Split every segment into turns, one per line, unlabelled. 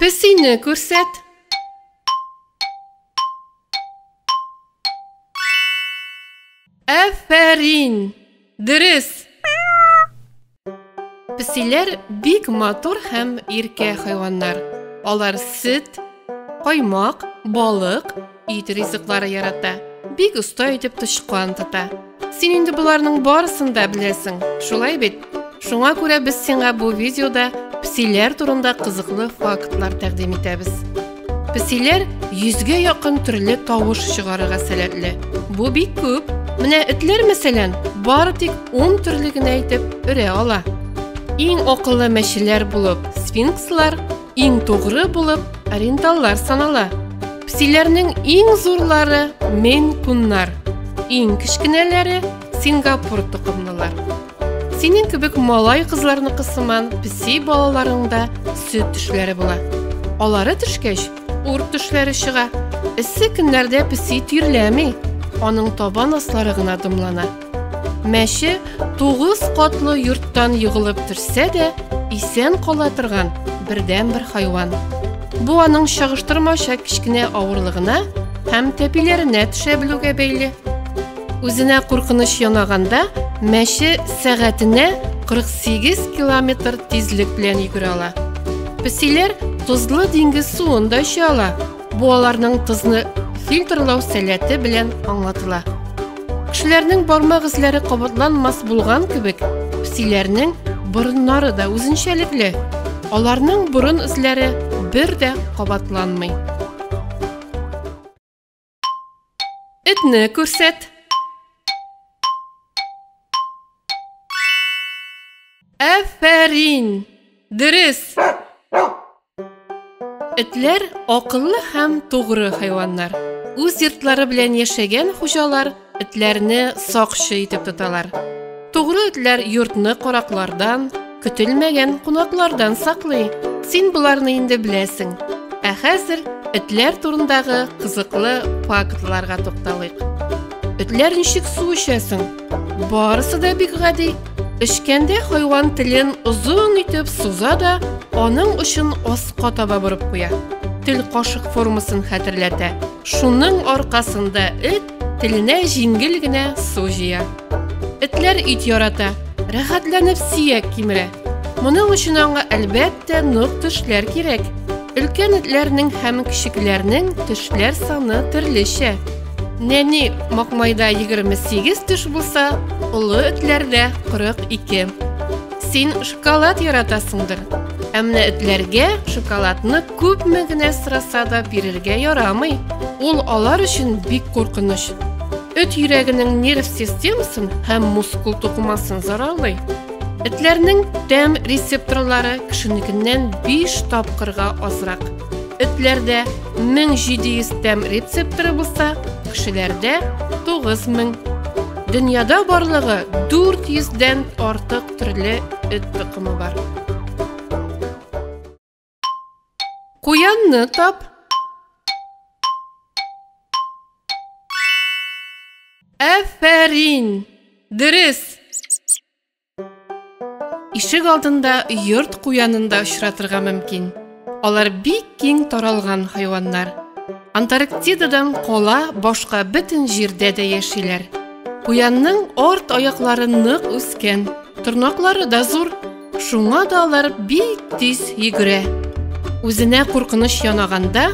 Песине күрсәт. Әфәрин! Дөрес! Песиләр бик матур һәм иркә хайваннар. Алар сөт, каймак, балык, Ит ризыклары ярата. Бик оста итеп тычкан тота. Син инде боларның барысын да беләсең, шулай бит? Шуңа күрә без сиңа бу видеода псиләр турында кызыклы фактлар тәкъдим итәбез. Псиләр 100гә якын төрле тавыш чыгарырга сәләтле. Бу бик күп. Менә этләр мәсәлән, бары тик 10 төрле генә итеп өрә ала. Иң акыллы мәчеләр булып сфинкслар, иң тугры булып ориенталлар санала. Псиләрнең иң зурлары мен куннар, иң кечкенәләре Сингапур токымлылар. Синең кебек малай кызларны кысыман пси балаларыңда сөт төшләре була. Алары төшкәч, урт төшләре чыга. Эссе көннәрдә пси тирләми, аның табан аслары гына дымлана. Мәче тугыз катлы йорттан егылып төшсә дә, исән кала торган бердән бер хайван. Бу аның чагыштырмача кечкенә авырлыгына һәм тәпиләренә төшә белүгә бәйле. Үзенә куркыныч янаганда мәче сәгатенә 48 километр тизлек белән йөгерә ала. Песиләр тозлы диңгез суын да эчә ала. Бу аларның тозны фильтрлау сәләте белән аңлатыла. Кешеләрнең бармак эзләре кабатланмас булган кебек, псиләрнең борыннары да үзенчәлекле. Аларның борын эзләре бер дә кабатланмый. Этне күрсәт. Әфәрин! Дөрес! Этләр акыллы һәм тугры хайваннар. Үз йортлары белән яшәгән хуҗалар этләрне сакчы итеп тоталар. Тугры этләр йортны караклардан, көтелмәгән кунаклардан саклый. Син боларны инде беләсең. Ә хәзер этләр турындагы кызыклы фактларга тукталыйк. Этләр ничек су эчәсең? Барысы да бик гади. Эчкәндә хайван телен озын итеп суза да, аның очын аска таба борып куя. Тел кашык формасын хәтерләтә. Шуның аркасында эт теленә җиңел генә су җыя. Этләр ит ярата, рәхәтләнеп сиек кимерә. Моның өчен аңа әлбәттә нык тешләр кирәк. Өлкән этләрнең һәм кечекләрнең тешләр саны төрлечә. Нәни макмайда 28 төш булса, олы этләрдә 42. Син шоколад яратасыңдыр. Ә менә этләргә шоколадны күпме генә сораса да бирергә ярамый. Ул алар өчен бик куркыныч. Эт йөрәгенең нерв системасын һәм мускул тукымасын зарарлый. Этләрнең тәм рецепторлары кешенекеннән 5 тапкырга азрак. Этләрдә 1700 тәм рецепторы булса, кешеләрдә 9000. Дөньяда барлыгы 400 дән артык төрле эт токымы бар. Куянны тап. Афәрин! Дөрес! Ишек алдында йорт куянында очратырга мөмкин. Алар бик киң таралган хайваннар. Антарктидадан кала башка бөтен җирдә дә яшиләр. Куянның арт аяклары нык үскән, тырнаклары да зур, шуңа да алар бик тиз йөгерә. Үзенә куркыныч янаганда,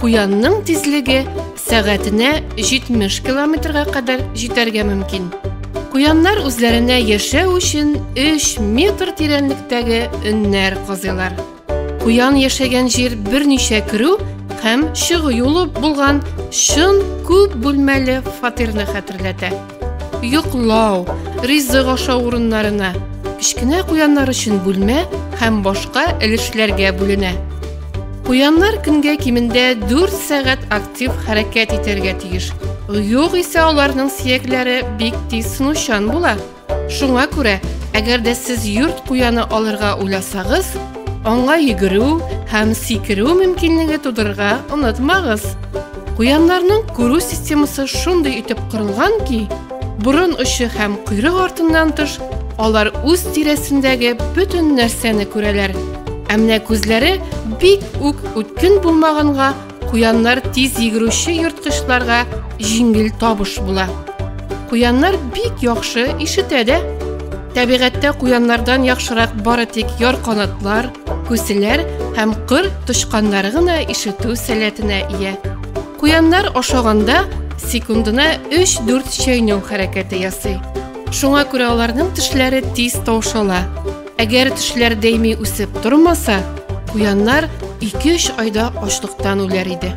Куянның тизлеге сәгатенә 70 километрга кадәр җитәргә мөмкин. Куяннар үзләренә яшәү өчен 3 метр тирәнлектәге өннәр казыйлар. Куян яшәгән җир берничә керү һәм чыгу юлы булган чын күп бүлмәле фатирны хәтерләтә. йоклау, ризык ашау урыннарына, кечкенә куяннар өчен бүлмә һәм башка өлешләргә бүленә. Куяннар көнгә кимендә 4 сәгать актив хәрәкәт итәргә тиеш. Юк исә аларның сиякләре бик тиз сынучан була. Шуңа күрә, әгәр дә сез йорт куяны алырга уйласагыз, аңа йөгерү һәм сикерү мөмкинлеге тудырырга онытмагыз. Куяннарның күрү системасы шундый итеп корылган ки, борын очы һәм койрык артыннан тыш, алар үз тирәсендәге бөтен нәрсәне күрәләр. Ә менә күзләре бик үк үткен булмаганга, куяннар тиз йөгерүче ерткычларга җиңел табыш була. Куяннар бик яхшы ишетә дә. Табигатьтә куяннардан яхшырак бары тик яр канатлар, күселәр һәм кыр тычканнары гына ишетү сәләтенә ия. Куяннар ашаганда секундына 3-4 чәйнәү хәрәкәте ясый. Шуңа күрә аларның тешләре тиз таушала. Әгәр тешләр дәйми үсеп тормаса, куяннар 2-3 айда ачлыктан үләр иде.